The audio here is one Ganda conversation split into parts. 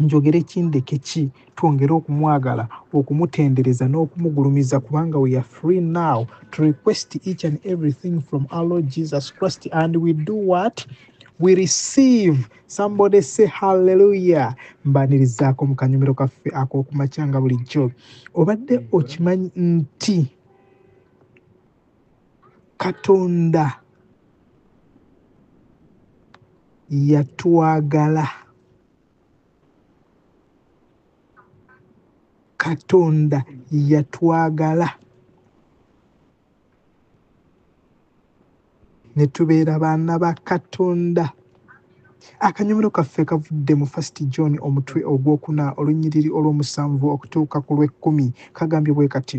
njogere ki ndeke ki twongere okumwagala okumutendereza n'okumugulumiza kubanga we are free now to request each and everything from our lord jesus christ and we do what we receive somebody say halleluya mbanirizaako mu kanyumiro kaffe ak'okumakyanga bulijjo obadde okimanyi nti katonda yatwagala katonda yatwagala ne tubeera baana ba katonda akanyomero kaffe kavudde mu fast john omutwe ogwokuna olunyiriri olwomusanvu okutuuka ku lwekkumi kagambye bwe kati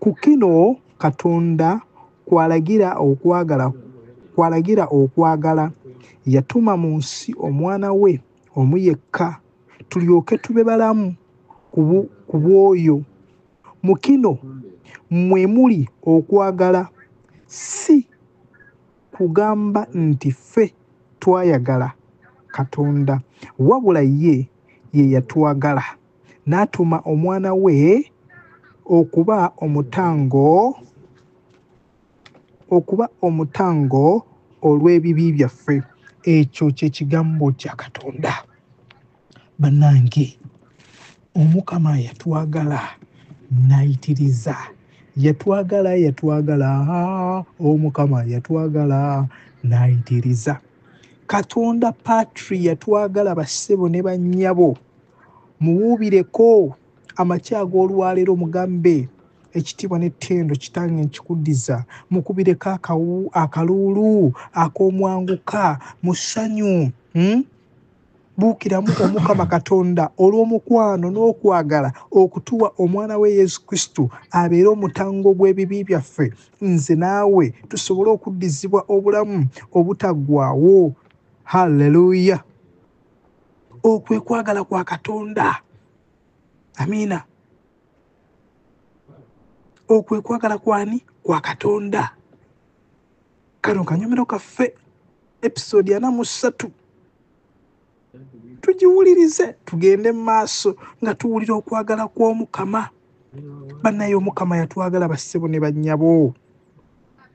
Ku kino Katonda kwalagira okwagala kwalagira okwagala yatuma mu nsi omwana we omu yekka tulyoke tube balamu ku bw'oyo mu kino mwe muli okwagala si kugamba nti ffe twayagala katonda wabula ye ye yatwagala n'atuuma omwana we okuba omutango okuba omutango olw'ebibi byaffe ekyo kye kigambo kya katonda bannange omukama yatwagala nayitiriza yatwagala yatwagala omukama yatwagala nayitiriza katonda patri yatwagala bassebo ne bannyabo muwuubireko amakya ag'olwaleero mugambe ekitiibwa n'ettendo kitange nkikuddiza mukubireko akawu akaluulu ak'omwanguka mu ssanyu hmm? buukiramu omukama katonda olw'omukwano n'okwagala okutuwa omwana we yesu kristo abeere omutango gw'ebibi byaffe nze naawe tusobole okuddizibwa obulamu obutaggwawo halleluya okwe kwagala kwa katonda amiina okwe kwagala kwani kwa katonda kano kanyumiro kaffe episode ana mu ssatu tugiwulirize tugende mu maaso nga tuwulira okwagala kw'omukama bannaye omukama yatwagala bassebo ne bannyabo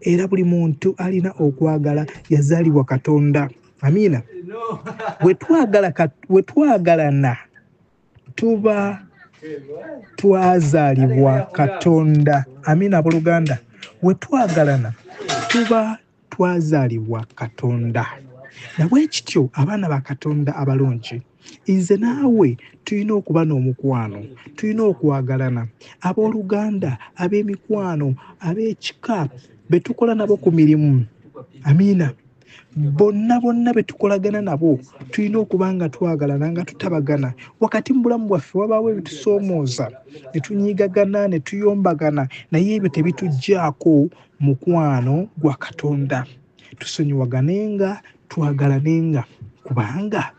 era buli muntu alina okwagala yazaalibwa katonda amiina wetwagalana tuba twazaalibwa katonda amiina abooluganda wetwagalana tuba twazaalibwa katonda nabwekityo abaana ba katonda abalungi nze naawe tulina okuba n'omukwano tulina okwagalana abooluganda ab'emikwano ab'ekika be tukola nabo ku mirimu amiina bonna bonna be tukolagana nabo tulina okuba nga twagalana nga tutabagana wakati mu bulamu bwaffe wabaawo ebitusoomooza ne tunyiigagana ne tuyombagana naye ebyo tebituggyako mukwano gwa katonda tusonyiwaganenga twagalanenga kubanga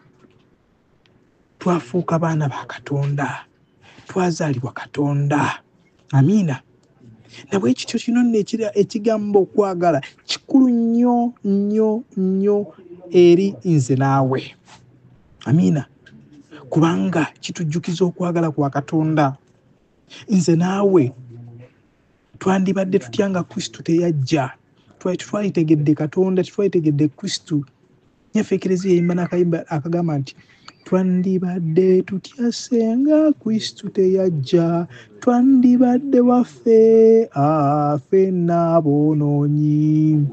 twafuuka baana ba katonda twazaalibwa katonda amiina nabwe ekityo kino nno ekigambo okwagala kikulu nnyo nnyo nnyo eri nze naawe amiina kubanga kitujjukiza okwagala kwa katonda nze naawe twandibadde tutya nga kristo teyajja twali tetwalitegedde katonda tetwalitegedde kristo nyaffe ekerezi yeyimba nakayimba akagamba nti twandibadde tutya senga kristo teyajja twandibadde waffe afe naabonoonyi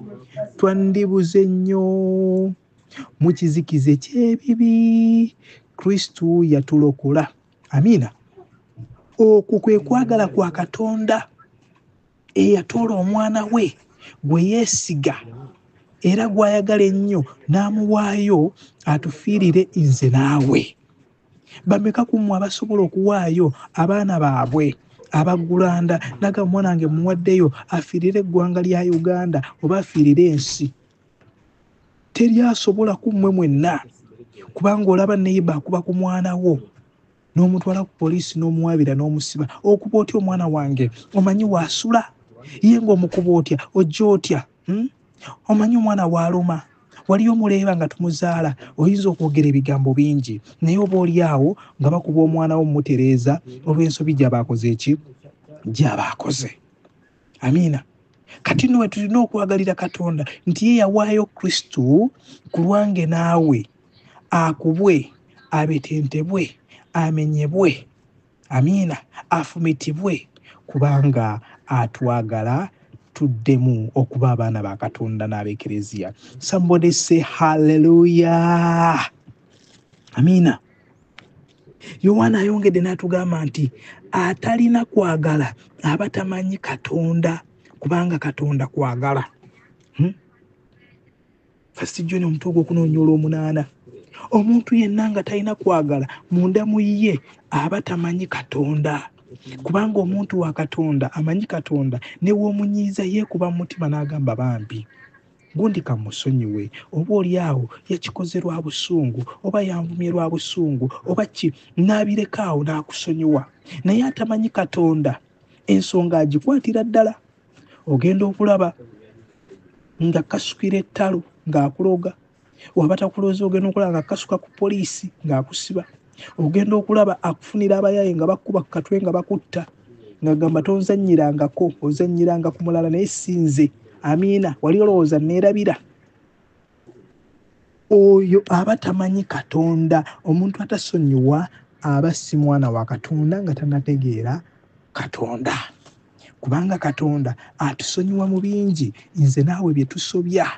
twandibuze nnyo mu kizikiza ekyebibi kristo yatulokola amiina okwo kwe kwagala kwa katonda eyatoola omwana we gwe yeesiga era gwayagala ennyo n'amuwaayo atufiirire nze naawe bameka ku mmwe abasobola okuwaayo abaana baabwe abagulanda naga omwana wange muwaddeyo afiirire eggwanga lya uganda oba afiirire ensi teri asobola ku mmwe mwenna kubanga olaba neyiba akuba ku mwana wo n'omutwala ku poliisi n'omuwabira n'omusiba okuba otya omwana wange omanyi waasula ye ngaomukuba otya ojja otya hmm? omanyi omwana waaluma wali omuleeba nga tumuzaala oyinza okwogera ebigambo bingi naye oba oli awo nga bakuba omwana wo mumutereeza olw'ensobi gyabaakoze eki gyabaakoze amiina kati nno wetulina okwagalira katonda nti ye yawaayo kristo ku lwange naawe akubwe abetentebwe amenyebwe amiina afumitibwe kubanga atwagala tuddemu okuba abaana ba katonda n'abekereziya sambode se halleluya amiina yowaana ayongedde n'atugamba nti atalina kwagala aba tamanyi katonda kubanga katonda kwagala hmm? fasijoni omutuuga okunoonya olwomunaana omuntu yenna nga talina kwagala munda mu ye aba tamanyi katonda kubanga omuntu wa katonda amanyi katonda newomunyiiza yeekuba mu mutima n'agamba bambi Gundi ka musonyiwe, oba oli awo yakikoze lwa busungu, oba yanvumye lwa busungu, oba ki, n'abireka awo n'akusonyiwa. Naye atamanyi Katonda ensonga agikwatira ddala. Ogenda okulaba nga kasukira ettalo ng'akuloga. waba takulooza ogenda okulaba nga kasuka ku poliisi ng'akusiba ogenda okulaba akufunira abayaye nga bakuba ku katwe nga bakutta ngagamba tonzanyirangako ozanyiranga ku mulala naye sinze amiina wali olowooza neerabira oyo aba tamanyi katonda omuntu atasonyiwa aba si mwana wa katonda nga tanategeera katonda kubanga katonda atusonyiwa mu bingi nze naawe bye tusobya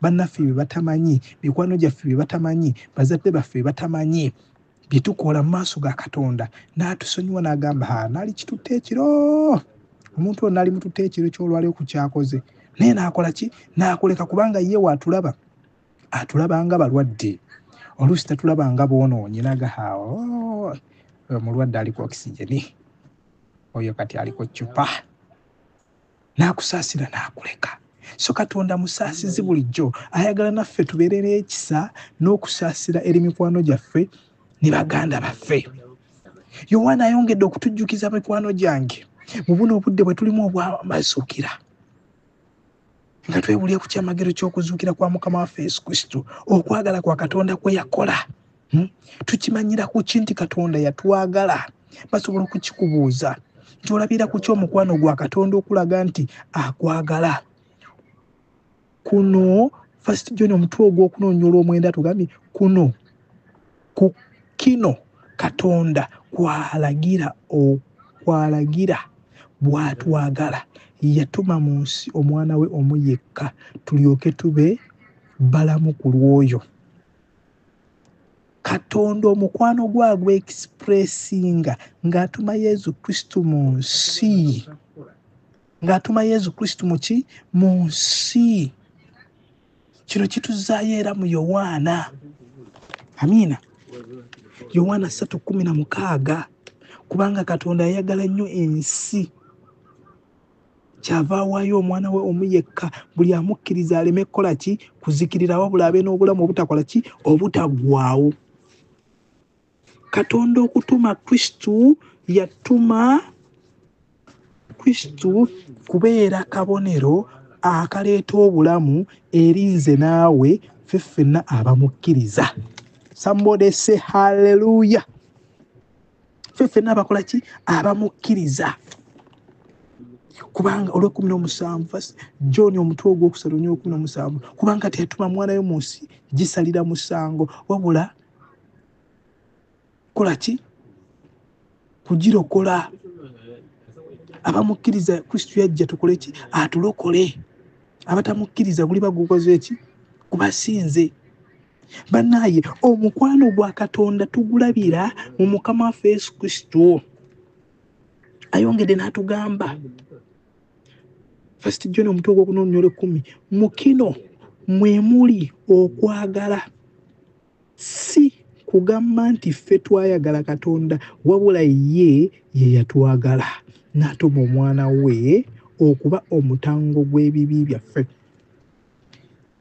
bannaffe bye batamanyi mikwano gyaffe bye batamanyi bazadde baffe bye batamanyi bye tukola mu maaso ga katonda n'atusonyiwa n'agamba ha naali kitutte ekiro omuntu ono naali mututte ekiro ky'olwali oku kyakoze naye n'akola ki n'akuleka kubanga ye waatulaba atulaba nga balwadde oluusi tatulaba nga boonoonye naga ha oh, omulwadde aliko okisigeni oyo kati aliko cupa n'akusaasira n'akuleka so katonda musaasizi bulijjo ayagala naffe tubeere n'ekisa n'okusaasira eri mikwano gyaffe ne baganda baffe yowaana ayongedde okutujjukiza mikwano gyange mu buno obudde bwe tulimu obwamazuukira nga twebulya ku kyamagero ky'okuzuukira kwa mukama waffe yesu kristo okwagala kwa katonda kwe yakola hmm? tukimanyira ku ki nti katonda yatwagala basobola okukikubuuza nti olabira ku ki omukwano gwa katonda okulaga nti akwagala kuno first john omutwe ogwokunonyola omwenda tugambye kuno ku kino katonda kwalagira okwalagira bwatwagala yatuma mu nsi omwana we omu yekka tulyoke tube balamu ku lwoyo katonda omukwano gwe agwa expressinga ng'atuma yesu kristu mu nsi ng'atuma yesu kristu muki mu nsi kino kituzaayo era mu yowaana amiina yowaana 316 kubanga katonda ayagala nnyo ensi kyava awaayo omwana we omu yekka buli amukkiriza aleme kukola ki kuzikirira wabula abe n'obulamu obutakola ki obutaggwawo katonda okutuma kristu yatuma kristu kubeera kabonero akaleeta obulamu eri nze naawe fe ffenna abamukkiriza sambodese halleluya ffe ffenna abakola ki abamukkiriza kubanga olwekumi nomusanvu john omutwe ogwokusatu nyekumi nomusanvu kubanga teyatuma mwana yo mu nsi gisalira musango wabula kola ki kugirokola abamukkiriza kristu yajja tukole ki atulokole abatamukkiriza guliba gukoze ki kubasinze banaye omukwano gwa katonda tugulabira mu mukama waffe yesu kristo ayongedde n'atugamba first john omutwe ogwokunonyolo ekumi mukino mwemuli okwagala si kugamba nti ffe twayagala katonda wabula ye ye yatwagala n'atuma omwana we okuba omutango gw'ebibi byaffe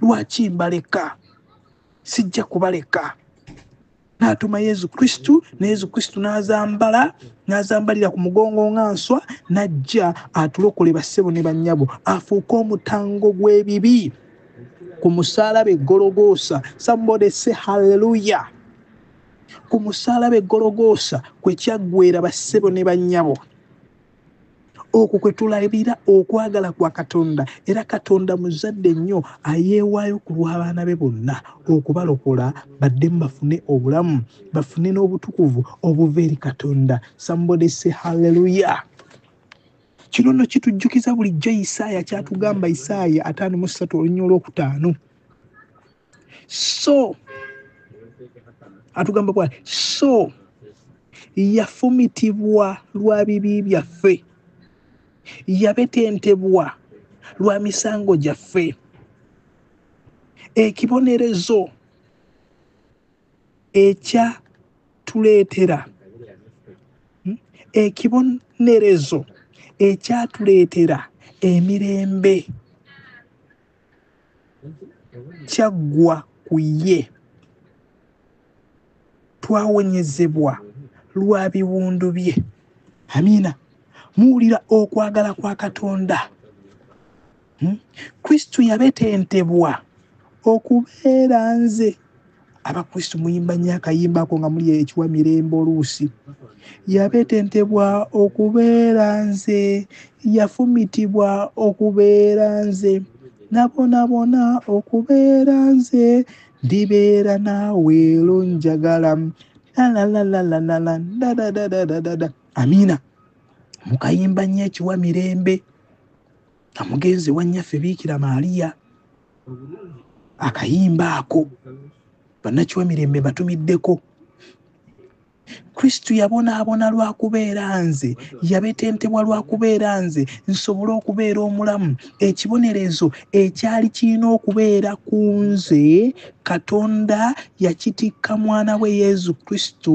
lwaki mbaleka sijja kubaleka n'atuma yesu kristu ne yesu kristu n'azambala n'azambalira ku mugongo nga nswa n'ajja atulokole bassebo ne bannyabo afuuke omutango gw'ebibi ku musaalaba eggologoosa somebody say halleluya ku musaalaba eggologoosa kwe kyaggwera bassebo ne bannyabo okwo kwe tulabira okwagala kwa katonda era katonda muzadde nnyo ayeewaayo ku lw'abaana be bonna okubalokola baddemu bafune obulamu bafune n'obutukuvu obuva eri katonda sambode se halleluya kino nno kitujjukiza bulijjo isaaya kyatugamba isaaya ataano mu ssatu olunya olwokutaano so atugamba bwa so yafumitibwa lwa bibi byaffe yabetentebwa lwa misango gyaffe ekibonerezo ekya tuleetera hmm? ekibonerezo ekyatuleetera emirembe kyaggwa ku ye twawonyezebwa lwa biwundu bye amiina muwulira okwagala kwa katonda hmm? kristo yabetentebwa okubeera nze abakristu muyimba nnyo akayimba ako nga muli ekiwa mirembe oluusi yabetentebwa okubeera nze yafumitibwa okubeera nze nabonabona okubeera nze ndibeera naawe ero njagala lalalalalala dadadadadadada amiina mukayimba nnyo ekiwa mirembe amugenzi wanyaffe biikira maaliya akayimba ako bannakiwamirembe batumiddeko kristo yabonaabona lwa kubeera nze yabetentebwa lwa kubeera nze nsobole okubeera omulamu ekibonerezo ekyali kirina okubeera ku nze katonda yakitikka mwana we yesu kristo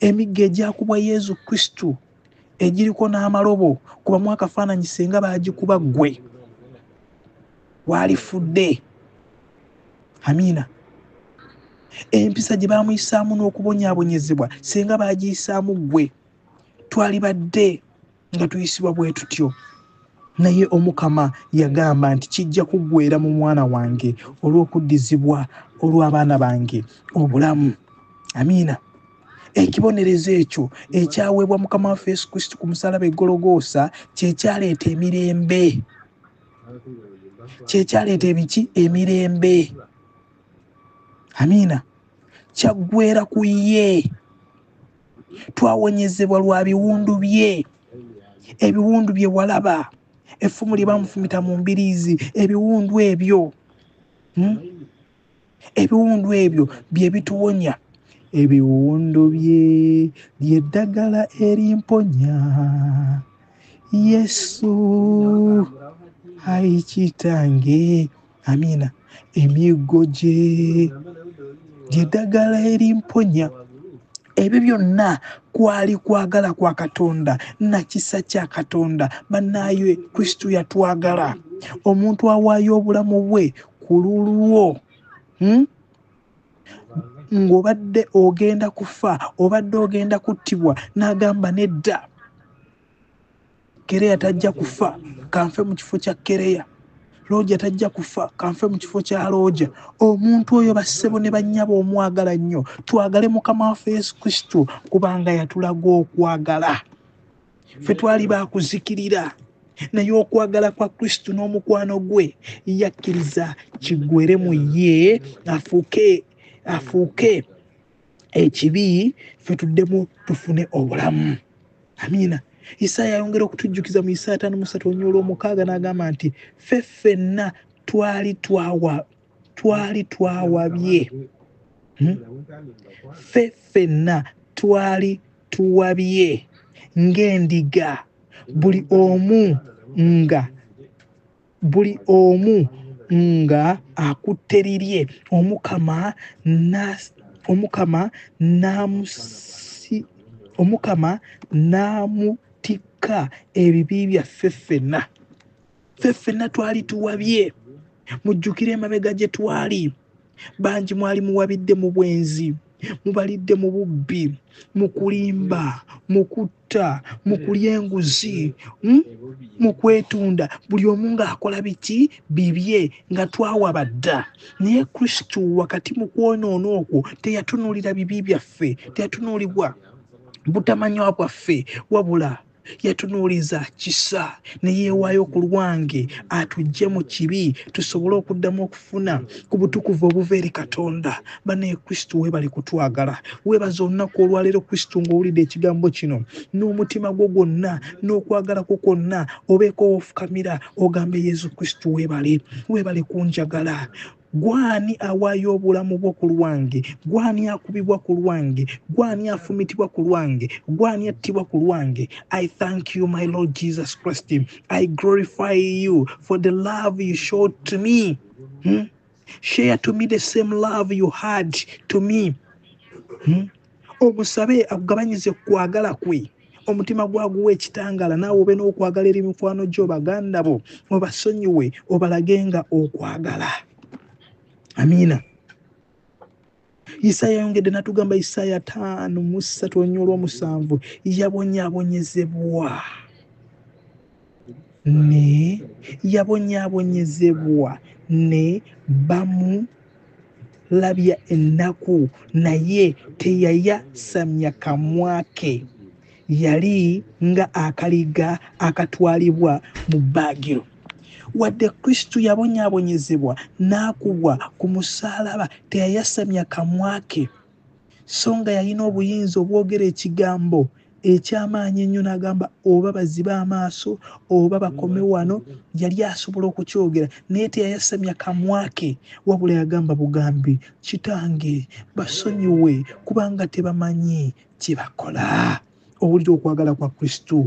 emiggo egyakubwa yezu kristu egiriko n'amalobo kubamu akafaananyi singa baagikuba ggwe waalifudde amiina empisa gye baamuyisaamu n'okubonyaabonyezebwa singa baagiyisaamu ggwe twalibadde nga tuyisibwa bwe tutyo naye omukama yagamba nti kijja kuggwera mu mwana wange olw'okuddizibwa olw'abaana bange obulamu amiina ekibonerezo ekyo ekyaweebwa mukama waffe yesu kristo ku musalaba egologoosa kyekyaleeta emirembe kyekyaleeta ebiki emirembe amiina kyaggwera ku ye twawonyezebwa lwa biwundu bye ebiwundu bye walaba effumu lye bamufumita mu mbiriizi ebiwundu ebyo hmm? ebiwundu ebyo bye bituwonya ebiwundu bye lyeddagala erimponya yesu ayi kitange amiina emiggo gye gyeddagala erimponya ebyo byonna kwali kwagala kwa katonda nakisa kya katonda bannaayo kristo yatwagala omuntu awaayo obulamu bwe ku lulwo hmm? ng'obadde ogenda kufa obadde ogenda kuttibwa n'agamba nedda kereya tajja kufa kanfe mu kifo kya kereya looja tajja kufa kanfe mu kifo kya looja omuntu oyo bassebo ne bannyaba omwagala nnyo twagale mukama waffe yesu kristo kubanga yatulaga okwagala ffe twali bakuzikirira naye okwagala kwa kristo n'omukwano gwe yakkiriza kigwere mu ye afuuke afuuke ekibi ffe tuddemu tufune obulamu amiina isaaya ayongera okutujjukiza mu isaaya taano musatu onyoola omukaaga n'agamba nti ffe ffenna twali twawa twali twawabye hmm? ffe ffenna twali tuwabye ng'endiga buli omu nga buli omu nga akutte lirye omukama omukama omukama n'amutikka ebibi byaffe ffenna ffe ffenna twali tuwabye mujjukire emabega gye twali bangi mwali muwabidde mu bwenzi mubalidde mu bubbi mu kulimba mu kutta mu kulya enguzi hmm? mu kwetunda buli omu ng'akola biki bibye nga twawaba dda naye kristo wakati mu kwonoona okwo teyatunuulira bibi byaffe teyatunuulibwa butamanywa bwaffe wabula yatunuuliza kisa ne yeewaayo ku lwange atujje mu kibi tusobole okuddamu okufuna ku butukuvu obuva eri katonda banaye kristo weebale kutwagala weebaza olunaku olwaleero kristo ng'owulidde ekigambo kino n'omutima gwo gwonna n'okwagala kwo kwonna obeeko wofukamira ogambe yesu kristo weebale weebale kunjagala Gwani awaayo obulamu bwo ku lwange? Gwani akubibwa ku lwange? Gwani afumitibwa ku lwange? Gwani attibwa ku lwange? I thank you my Lord Jesus Christ. I glorify you for the love you showed to me. Hmm? Share to me the same love you had to me. Hmm? omusabe akugabanyize ku kwagala kwe omutima gwaguwa ekitangaala naawe obe n'okwagala eri mikwano gyo baganda bo obasonyiwe obalage nga okwagala amiina isaaya yayongedde natugamba isaaya taano mu ssatu olunya olwomusanvu yabonyabonyezebwa ne yabonyaabonyezebwa ne bamulabya ennaku naye teyayasamya kamwa ke yali nga akaliga akatwalibwa mu bbaagiro wadde kristo yabonyaabonyezebwa n'akubwa ku musaalaba teyayasamya kamwa ke so nga yalina obuyinza obwogera ekigambo ekyamaanyi ennyo n'agamba oba bazibe amaaso oba bakome wano yali asobola okukyogera naye teyayasamya kamwa ke wabula yagamba bugambi kitange basonyiwe kubanga tebamanyi kye bakola owulira okwagala kwa kristo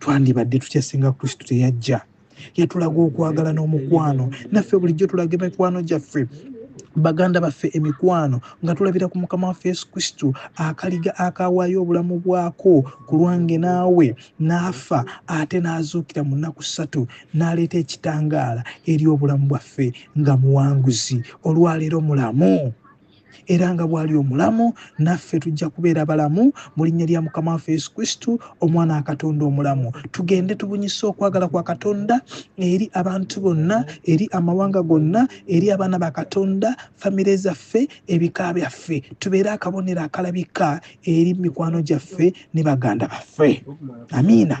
twandibadde tutya singa kristo teyajja yatulaga okwagala n'omukwano naffe bulijjo tulaga emikwano gyaffe baganda baffe emikwano nga tulabira ku mukama waffe yesu kristo akaliga akawaayo obulamu bwako ku lwange naawe n'afa ate n'azuukira mu nnaku ssatu n'aleeta ekitangaala eri obulamu bwaffe nga muwanguzi olwaleero mulamu era nga bw'ali omulamu naffe tujja kubeera balamu mu linnya lya mukama waffe yesu kristu omwana wa katonda omulamu tugende tubunyise okwagala kwa katonda eri abantu bonna eri amawanga gonna eri abaana ba katonda famire zaffe ebika byaffe tubeere akabonero akalabika eri mikwano gyaffe ne baganda baffe amiina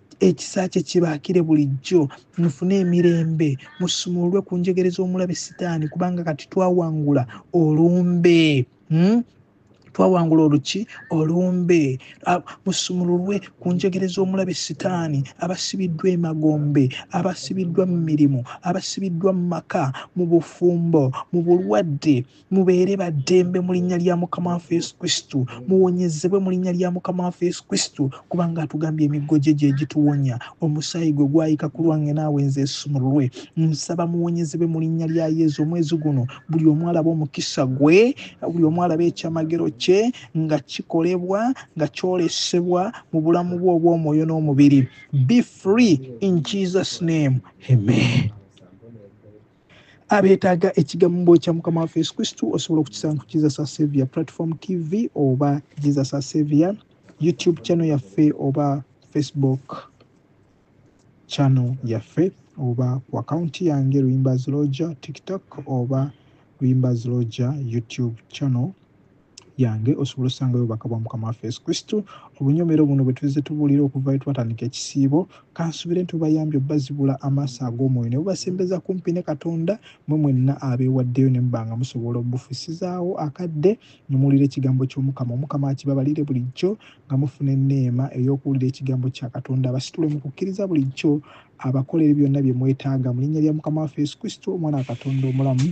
ekisa kye kibaakire bulijjo mufune emirembe musumululwe ku njegere z'omulabe sitaani kubanga kati twawangula olumbe hmm? twawangula oluki olumbe musumululwe ku njegere z'omulabe sitaani abasibiddwa emagombe abasibiddwa mu mirimu abasibiddwa mu maka mu bufumbo mu bulwadde mubeere ba ddembe mu linnya lya mukama waffe yesu kristo muwonyezebwe mu linnya lya mukama waffe yesu kristo kubanga atugambye emiggo gye gye gituwonya omusaayi gwe gwayika ku lwange naawe nze esumululwe nsaba muwonyezebwe mu linnya lya yesu omwezi guno buli omu alaba omukisa gwe buli omu alaba ekyamagero kye nga kikolebwa nga kyolesebwa mu bulamu bwe obw'omwoyo n'omubiri be free in jesus name amen abeetaaga ekigambo kya mukama waffe yesu kristu osobola okukisanga ku jesus asavia platform tv oba jesus asavia youtube channel yaffe oba facebook channel yaffe oba ku akawunti yange luyimba ziloja tiktok oba luyimba ziloja youtube channel yange osobola osangayo obubaka bwa mukama waffe yesu kristo obunyomero buno bwetuzze tubuulira okuva etwatandika ekisiibo kansubire nti bubayambye obbazibula amaaso ag'omwoyo ne bubasembeza kumpi ne katonda mwe mwenna abeewaddeyo ne mubanga musobola obufusizaawo akadde nemuwulira ekigambo ky'omukama omukama akibabalire bulijjo nga mufuna enneema ey'okuwulira ekigambo kya katonda abasitule mu kukkiriza bulijjo abakolere byonna bye mwetaaga mu linnya lya mukama waffe yesu kristo omwana wa katonda omulamu